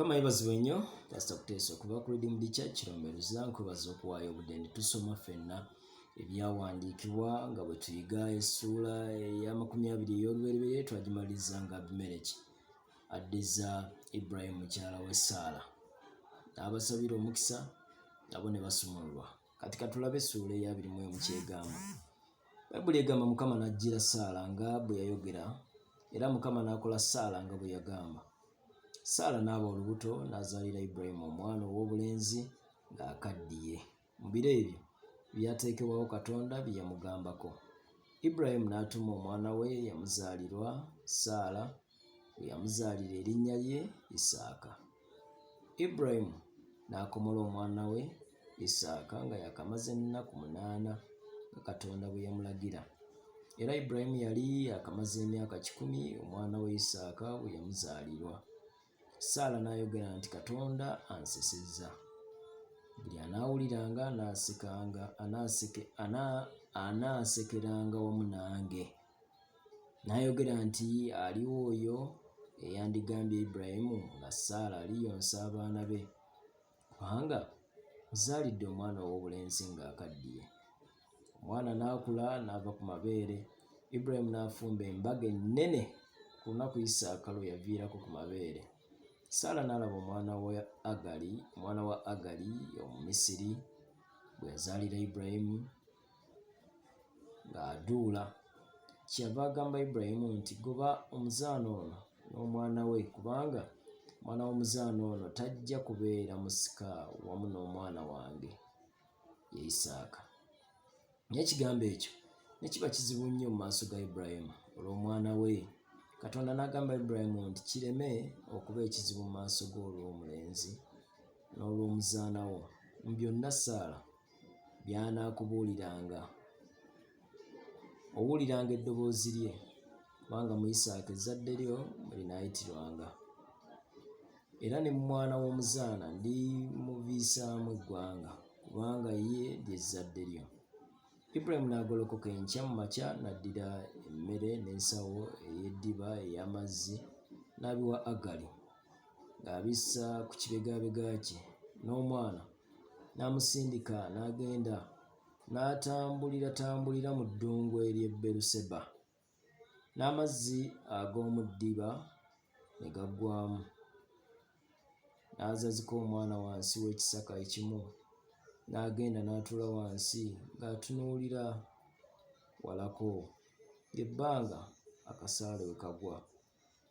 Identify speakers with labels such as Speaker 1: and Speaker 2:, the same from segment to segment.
Speaker 1: kama yebazibwe nnyo pasita kuteesa okuva ku redeem the church romberuza nkwebaza okuwaayo obudde ne tusoma fenna ebyawandiikibwa nga bwe tuyiga essuula eyamakumi abiri ey'olubereberye twagimaliriza nga abimereki addiza ibrahimu mukyala w'essaala n'abasabira omukisa nabo ne basumululwa kati katulabe essuula eyabiri mu emu kyegamba bayibuli egamba mukama n'ajjira saala nga bwe yayogera era mukama n'akola saala nga bwe yagamba saala n'aba olubuto n'azaalira ibulayimu omwana ow'obulenzi ng'akaddiye mu biro ebyo byateekebwawo katonda bye yamugambako ibulayimu n'atuma omwana we yamuzaalirwa saala we yamuzaalira erinnya lye isaaka ibulayimu n'akomola omwana we Isaaka nga yakamaze ennaku munaana nga Katonda bwe yamulagira. Era Ibulayimu yali yakamaze emyaka kikumi omwana we Isaaka bwe yamuzaalirwa. Saala n'ayogera nti Katonda ansesezza. Buli anaawuliranga anaasekanga anaasekeranga wamu nange. N'ayogera nti aliwo oyo eyandigambye Ibulayimu nga Saala aliyonsa abaana be. Kubanga ozaalidde omwana ow'obulenzi ng'akaddiye. Omwana n'akula n'ava ku mabeere, Ibulayimu n'afumba embaga ennene ku lunaku Isaaka lwe yaviirako ku mabeere. Saala n'alaba omwana wa Agali, omwana wa Agali Omumisiri, gwe yazaalira Ibulayimu. ng'aduula kyeyava agamba Ibulayimu nti goba omuzaana ono n'omwana we kubanga omwana w'omuzaana ono tajja kubeera musika wamu n'omwana wange ye Isaaka. Naye ekigambo ekyo ne kiba kizibu nnyo mu maaso ga Ibulayimu olw'omwana we. Katonda n'agamba Ibulayimu nti kireme okuba ekizibu mu maaso g'olw'omulenzi n'olw'omuzaana wo mu byonna Saala by'anaakubuuliranga. Owuliranga eddoboozi lye, kubanga mu Isaaka ezzadde lyo mwe linaayitirwanga. Era ne mu mwana w'omuzaana ndimuviisaamu eggwanga, kubanga ye ly'ezzadde lyo. Ibulayimu n'agolokoka enkya mu makya n'addira emmere n'ensawo ey'eddiba ey'amazzi n'abiwa Agali ng'abissa ku kibegabega kye n'omwana. n'amusindika n'agenda n'atambulira tambulira mu ddungu ery'e Beruseba, n'amazzi ag'omu ddiba ne gaggwaamu. N'azazika omwana wansi w'ekisaka ekimu, n'agenda n'atuula wansi ng'atunuulira walako, ly'ebbanga akasaale we kagwa.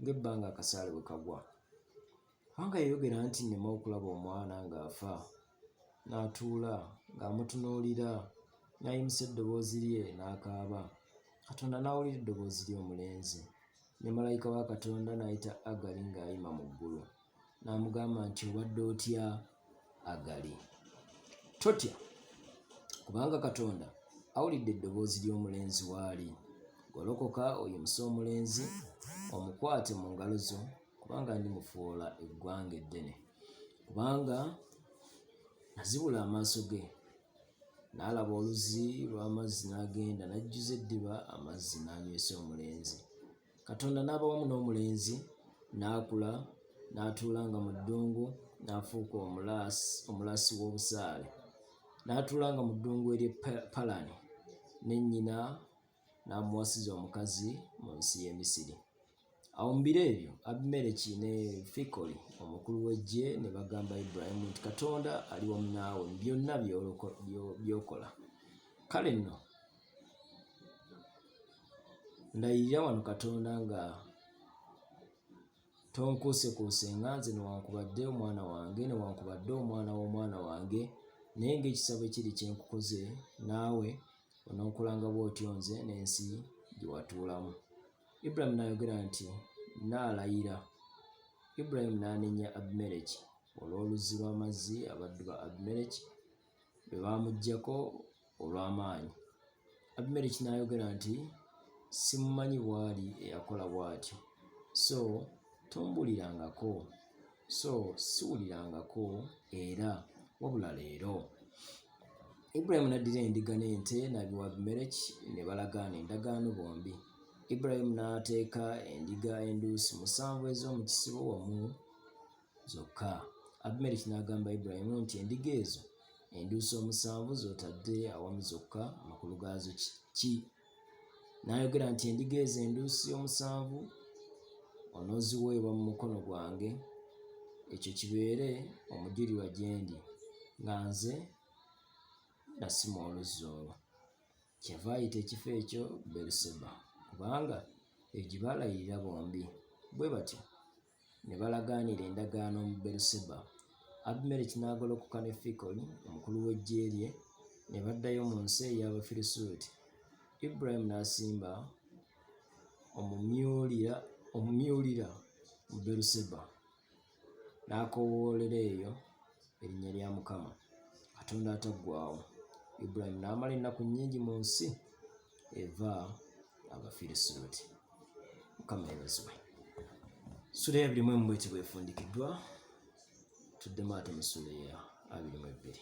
Speaker 1: ng'ebbanga akasaale bwe kagwa. Kubanga yayogera nti nneme okulaba omwana ng'afa. N'atuula ng'amutunuulira, n'ayimusa eddoboozi lye n'akaaba. Katonda n'awulira eddoboozi ly'omulenzi, ne malayika wa Katonda n'ayita Agali ng'ayima mu ggulu. n'amugamba nti obadde otya agali totya kubanga katonda awulidde eddoboozi ly'omulenzi waali golokoka oyimuse omulenzi omukwate mu ngalo zo kubanga ndi mufuula eggwanga eddene kubanga nazibula amaaso ge n'alaba oluzi lw'amazzi n'agenda n'ajjuza eddiba amazzi n'anywesa omulenzi Katonda n'abawamu n'omulenzi n'akula n'atuula nga mu ddungu n'afuuka omulaasi omulaasi w'obusaale n'atuula nga mu ddungu ery'e Palani ne nnyina n'amuwasiza omukazi mu nsi y'e Misiri. Awo mu biro ebyo Abimereki ne Fikoli omukulu w'eggye ne bagamba Ibulayimu nti Katonda ali wamu naawe mu byonna by'okola. Kale nno ndayirira wano katonda nga tonkuusekuuse nga nze newankubadde omwana wange newankubadde omwana w'omwana wange naye ngaekisabo ekiri kyenkukoze naawe ononkolanga bwotyo nze n'ensi gyewatuulamu ibulayimu n'ayogera nti naalayira ibulayimu n'anenya abimereki olw'oluzzi lw'amazzi abaddu ba abimereki be baamuggyako olw'amaanyi. Abimereki n'ayogera nti, Simumanyi bw'ali eyakola bw'atyo, so tombuulirangako, so siwulirangako era wabula leero. Ibulayimu n'addira endiga n'ente n'abiwa Abimereki ne balagaana endagaano bombi. Ibulayimu n'ateeka endiga enduusi musanvu ez'omu kisibo wamu zokka. Abimereki n'agamba Ibulayimu nti, Endiga ezo enduusi omusanvu z'otadde awamu zokka, amakulu gaazo ki? N'ayogera nti, Endiga ezo enduusi omusanvu onooziweebwa mu mukono gwange, ekyo kibeere omujulirwa gye ndi nga nze nasima oluzzi olwo. Kyava ayita ekifo ekyo Beruseba, kubanga egyo gye baalayirira bombi. Bwe batyo Ne balagaanira endagaano mu Beeru-seba. Abimereki n'agolokoka ne Fikoli omukulu w'eggye lye, ne baddayo mu nsi ey'Abafirisuuti. Ibulayimu n'asimba omumyuulira omumyuulira mu Beeru-seba, n'akoowoolera eyo erinnya lya Mukama, Katonda Ataggwaawo. Ibulayimu n'amala ennaku nnyingi mu nsi. eva abafirisuuti mukama yebazibwe sula ya bilimu emu bweti bwefundikiddwa tuddemu ate mu sula ya abilimu ebbiri